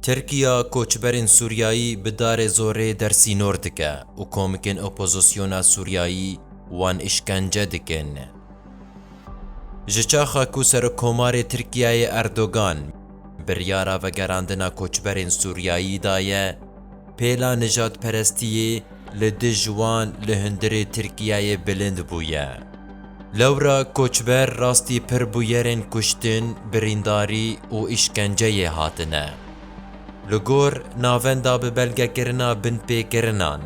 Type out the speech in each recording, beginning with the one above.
Tirkiya koçberên Sûriyayî bi darê zorê dersînor dike û komikên opozisyona Sûriyayî wan îşkence dikin. Ji çaxa ku Serokkomarê Tirkiyeyê Erdogan biryara vegerandina koçberên Sûriyayî daye, Pêla nijadperestiyê li dij wan li hundirê Tirkiyeyê bilind bûye. Lewra koçber rastî pir bûyerên kuştin, birîndarî û îşkenceyê hatine. Li gor navenda bi belgekirina binpêkirinan,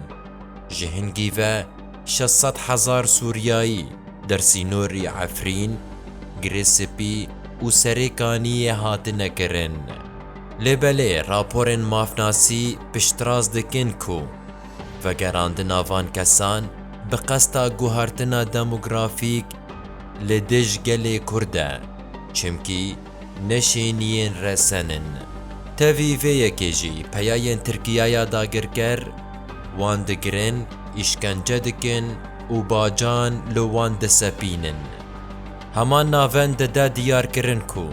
ji hingî ve şeş sed hezar Sûriyayî der sînorî Efrîn, Girê Spî û Serê Kaniyê hatine kirin. Lê belê raporên mafnasî piştrast dikin ku vegerandina van kesan bi qesta guhartina demografîk li dij gelê Kurd e, çimkî neşêniyên resen in. Tevî vê yekê jî peyayên Tirkiyaya dagirker wan digirin, îşkence dikin û bacan li wan disepînin. Heman navend dide diyarkirin ku,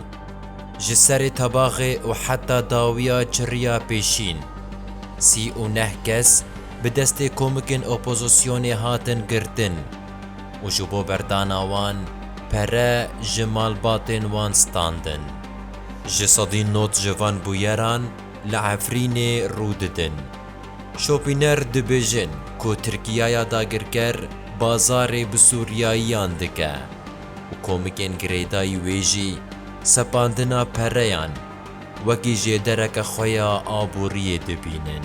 Ji serê tebaxê û heta dawiya çirriya pêşîn, sî û neh kes bi destê komikên opozisyonê hatin girtin û ji bo berdana wan pere ji malbatên wan standin. Ji sedî not ji van bûyeran li Efrînê rû didin. Şopîner dibêjin ku Tirkiyaya dagirker bazarê bi Sûriyayiyan dike. û komikên girêdayî wê jî sepandina pereyan wekî jêdereke xwe ya aboriyê dibînin.